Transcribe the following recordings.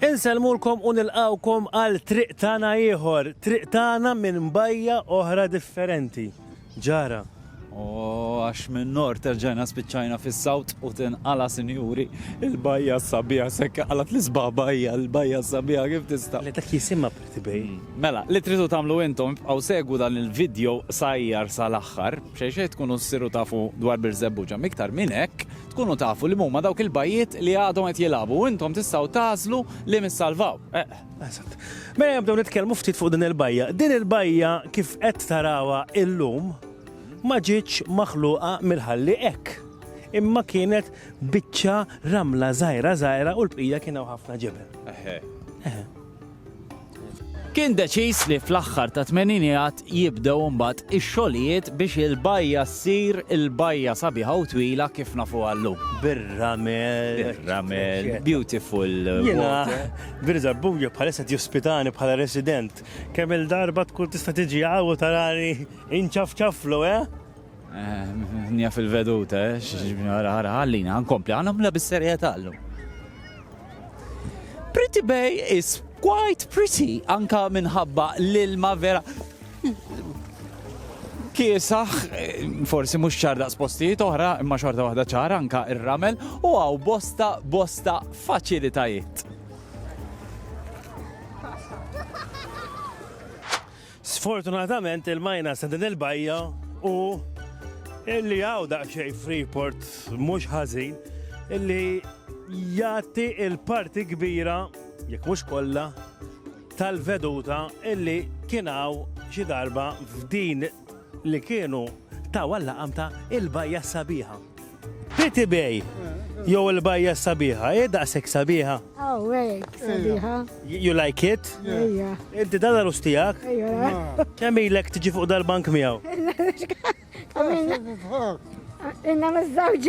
Insellmulkom u nilqgħukom għal triq tagħna ieħor, triq tagħna minn bajja oħra differenti. Ġara? U għax min-Nord erġajna spiċċajna fis-South u tinqala' sinjuri, il-bajja s-sabiħa s'hekk qalgħet l-isbaħ bajja, il-bajja s-sabiħa kif tista'. Le dak jisimha Pretty Bay. Mela, li tridu tagħmlu intom ibqgħu segwu dan il-vidjow sajjar sal-aħħar, b'xejn xejn tkunu ssiru tafu dwar Birżebbuġa. M'iktar minn hekk, Tkunu tafu li mhuma dawk il-bajjiet li għadhom qed jilagħbu u intom tistgħu tagħżlu li min salvaw. Eq. Eżatt. Mela nibdew nitkellmu ftit fuq din il-bajja. Din il-bajja kif qed tarawha illum ma ġietx maħluqa mill-ħalli hekk. Imma kienet biċċa ramla żgħira żgħira u l-bqija kien hawn ħafna ġebel. Eħe. Eħe. Kien deċiż li fl-aħħar tat-tmeninijat jibdew imbagħad ix-xogħlijiet biex il-bajja ssir il-bajja sabiħa u twila kif nafuha llum. Bir-ramel. Bir-ramel. Beautiful. Jiena bir-żabbuja bħalissa jospitani bħala resident. Kemm il-darba tkun tista' tiġi hawn u tarani inċafċaflu, eh? Nija fil-veduta, eh? Xġibni għara għara għallina, għankompli, għanamla bis-serjet għallu. Pretty Bay is quite pretty, anka minħabba l-ilma vera. Kiesaħ, forsi mux ċarda spostijiet oħra, imma xorta waħda ċara anka ir-ramel, u għaw bosta, bosta faċilitajiet. Sfortunatament il-minus ta' din il-bajja hu illi hawn daqsxejn Freeport mhux ħażin illi jagħti l-parti kbira, jekk mhux kollha, tal-veduta illi kien hawn xi darba f'din li kienu taw għal-laqam ta' il-bajja s-sabiħa. Pretty Bay jew il-bajja sabiħa, hi daqshekk sabiħa? Oh, hekk sabiħa. You like it? Ejja. Inti dan arus tiegħek? Ejja. Kemm ilek tiġi fuq dal-bank miegħu? Inna miż-żewġ.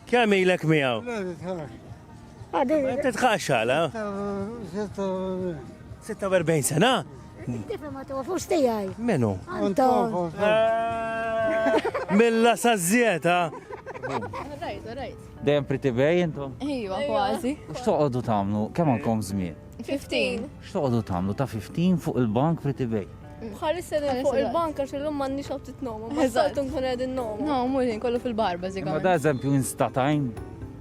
Kemm ilek miegħu? Titħax għala? 46 sena? Tifa ma tofux tijaj. Menu? Anton. Milla sazzieta. Rajt, rajt. Dejjem pretty bay intom? Iva, kważi. X'toqgħodu tagħmlu? Kemm għandkom żmien? 15. X'toqgħodu tagħmlu ta' 15 fuq il-bank pretty bay? Bħalissa din fuq il-bank għax illum m'għandniex għaw titnomu. Eżatt nkun qegħdin nomu. No, mhux kollu fil-barba żikam. Ma da eżempju instatajn.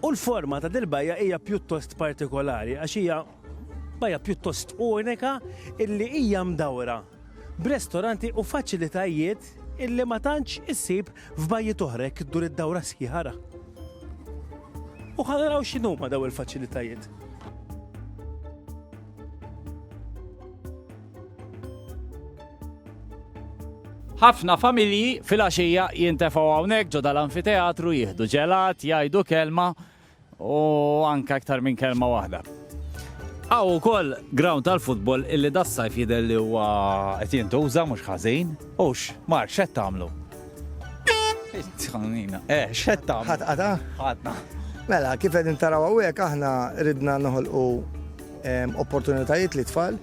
U l-forma ta' dil-bajja hija pjuttost partikolari għax hija bajja pjuttost unika illi hija mdawra b'restoranti u faċilitajiet illi ma tantx issib f'bajjiet oħra jekk iddur id-dawra sħiħa ara. U ħa naraw x'inhuma daw il-faċilitajiet. Ħafna familji fil-għaxija jintefgħu hawnhekk ġo dal-anfiteatru jieħdu ġelat, jgħidu kelma u anke aktar minn kelma waħda. Aw ukoll ground tal-futbol illi das-sajf jidher li huwa qed jintuża mhux ħażin. Ux, mar x'qed tagħmlu? Tħannina, eh, x'qed tagħmlu? Ħadd qata? Ħadna. Mela, kif qegħdin taraw hawnhekk aħna ridna noħolqu opportunitajiet li tfal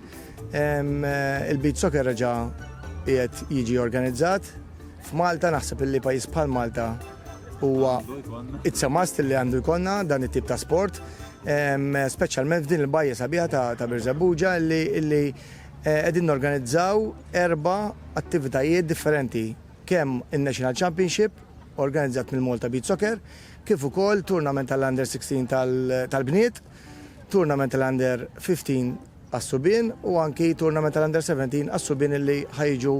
Il-beach soccer reġa' qiegħed jiġi organizzat f'Malta naħseb illi pajjiż bħal Malta huwa it's a must li għandu jkollna dan it-tip ta' sport speċjalment f'din il-bajja sabiħa ta' Birżebbuġa li eh, qegħdin norganizzaw erba' attivitajiet differenti kemm in-National Championship organizzat mill-Malta Beach Soccer, kif ukoll tournament tal-Under 16 tal-bniet, tournament tal-Under 15 għas-subien u anki tournament tal-Under 17 għas-subien illi ħa jiġu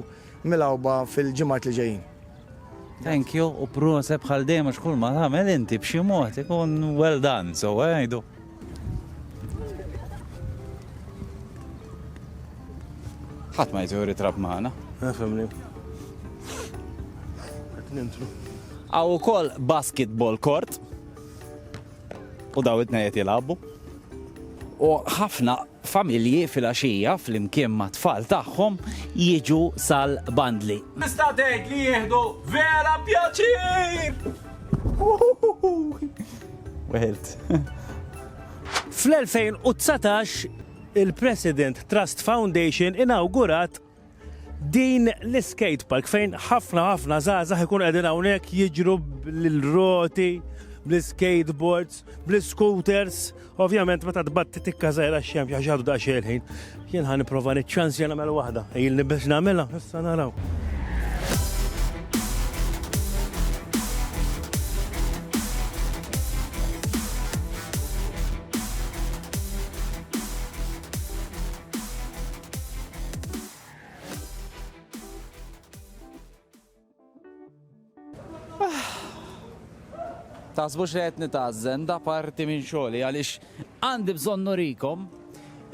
milgħuba fil-ġimgħat li ġejjin. Thank you u proset bħal dejjem għax kull ma tagħmel inti b'xi mod ikun well done, so għajdu. ħadd ma jiġu ritrab maħna. Nafemni. Għaw u koll basketball court. U daw it-tnejn qed jilagħbu. U ħafna familji filgħaxija flimkien mat-tfal tagħhom jiġu sal-bandli. Tista' tgħid li jieħdu vera pjaċir! Weħilt. Fl-2019, il-President Trust Foundation inawgurat Din l-iskate park fejn ħafna ħafna żgħażagħ ikun qegħdin hawnhekk jiġru bl-roti, bl-skateboards, bl-scooters. Ovvjament meta tbatti tikka żgħira x-xemx għax għadu daqsxejn ħin. Jien ħa nipprova niċċans jien nagħmel waħda. Ilni biex nagħmilha, issa naraw. Tasbux li qed nitgħażżen da parti minn xogħli għaliex għandi bżonn nurikom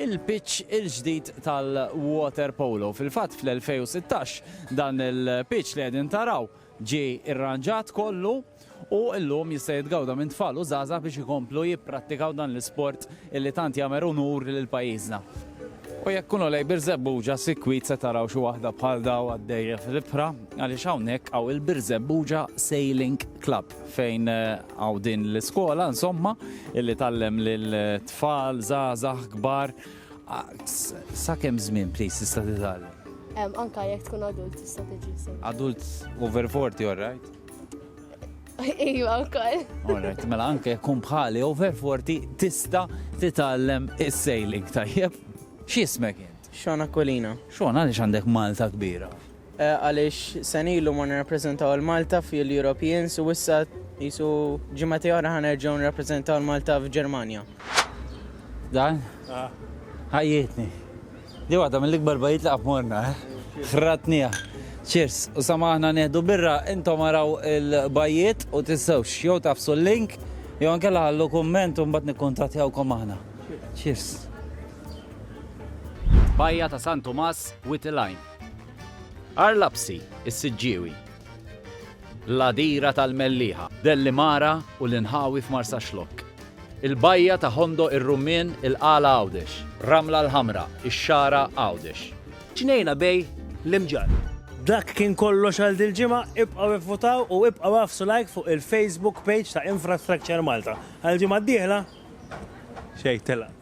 il-pitch il-ġdid tal-water polo. Fil-fatt fl-2016 dan il-pitch li qegħdin taraw ġie irranġat kollu u llum jista' jitgawda minn tfal u żgħażagħ biex ikomplu jipprattikaw dan l-isport illi tant jagħmer unur lil pajjiżna. U jekk tkunu lejn Birżebbuġa sikwit se taraw xi waħda bħal dawn għaddejja fl-ibħra għaliex hawnhekk hawn il-Birżebbuġa Sailing Club fejn hawn din l-iskola insomma illi tgħallem lil tfal, żgħażagħ, kbar. Sa kemm żmien please tista' titgħallem? Anke jekk tkun adult tista' tiġi. Adult over 40 alright? Iva, wkoll. Alright, mela anke kun bħali over 40 tista titgħallem is-sailing tajjeb. X'ismek int? Xona Kolina. Xona għaliex għandek Malta kbira? Eh, għaliex senilu ma nirrappreżentaw il-Malta fil-Europeans u issa jisu ġimgħati oħra ħanerġgħu nirrappreżentaw il-Malta f'Ġermanja. Dan? Ah. Ħajjitni. Di waħda mill-ikbar bajjiet li qatt morna, eh! Ħradtniha. Cheers! U sa ma aħna nieħdu birra, intom araw il-bajjiet u tinsewx jew tagħfsu l-link jew inkella ħallu kumment u mbagħad nikkuntattjawkom aħna. Cheers! Bajja ta' San Tumas, Witilajn. Għar Lapsi, is-Siġġiewi. l-għadira tal-Mellieħa, Dellimara u l-inħawi f'Marsaxlokk, il-bajja ta' Ħondoq ir-Rummien, il-Qala Għawdex, Ramla l-Ħamra, ix-Xagħra, Għawdex. Ġnejna bejn l-imġarr. Dak kien kollox għal dil-ġimgħa, ibqgħu ivvutaw u ibqgħu agħfsu like fuq il-Facebook page ta' Infrastructure Malta. Għall-ġimgħa d-dieħla xejn telaq.